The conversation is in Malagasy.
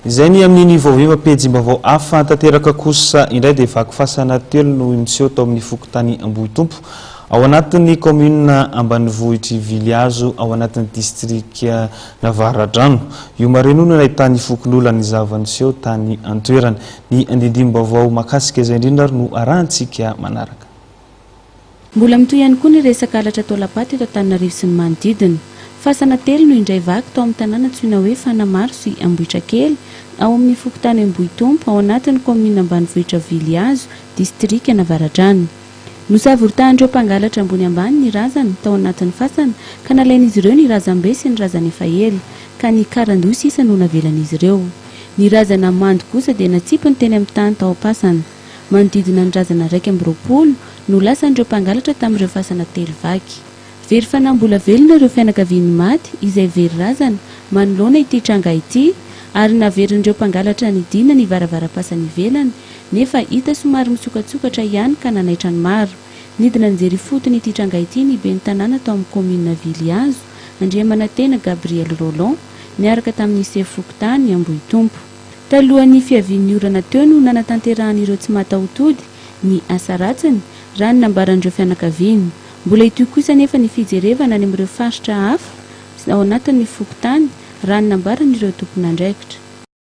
Izay ny amin' ny vaoviva Pejim-baovao hafa tanteraka kosa indray dia vaky fasana telo no miseho tao amin' ny fokontany Ambohitompo, ao anatin' ny kaominina ambanivohitr' i Vilihazo, ao anatin' ny distrikan'Avaradrano. Io marihina io no nahitan'ny fokonolona ny zava-niseho tany an-toerana. Ny andindim-baovao mahakasika izay indrindra ary no arahintsika manaraka. Mbola mitohy ihany koa ny resaka halatra taolam-paty eto Antananarivo sy ny manodidina. Fasana telo no indray vaky tao amin'ny tanàna antsoina hoe Fanamaro sy Ambohitrakely, ao amin'ny fokontany Ambohitompo, ao anatin'ny kaominina ambanivohitra Vilihazo, distrikan'Avaradrano. Nosavoritàn'ireo mpangalatra ambony ambany ny razana tao anatin'ny fasana ka nalain'izy ireo ny razambe sy ny razana efa ela, ka ny karandoha sisa no navelan'izy ireo. Ny razana mando kosa dia natsipiny teny amin'ny tany tao am-pasana. Manodidina ny razana iraika amby roapolo no lasan'ireo mpangalatra tamin'ireo fasana telo vaky. Very fanahy mbola velona ireo fianakavian'ny maty izay very razana manoloana ity tranga ity ary naverin'ireo mpangalatra nidina ny varavaram-pasana ivelany nefa hita somary mitsokatsokatra ihany ka nanaitra ny maro. Nidina nijery ifotony ity tranga ity ny ben'ny tanàna tao amin'ny kaominina Vilihazo, Andriamanantena Gabriel Roland, niaraka tamin'ny sefo fokontany Ambohitompo. Talohan'ny fiavian'ny orana teo no nanatanterahan'ireo tsy mataho-tody ny asa ratsiny, raha ny nambaran'ireo fianakaviana. Mbola hitohy kosa anefa ny fijerevana any amin'ireo faritra hafa ao anatin'ny fokontany, raha ny nambaran'ireo tompon'andraikitra.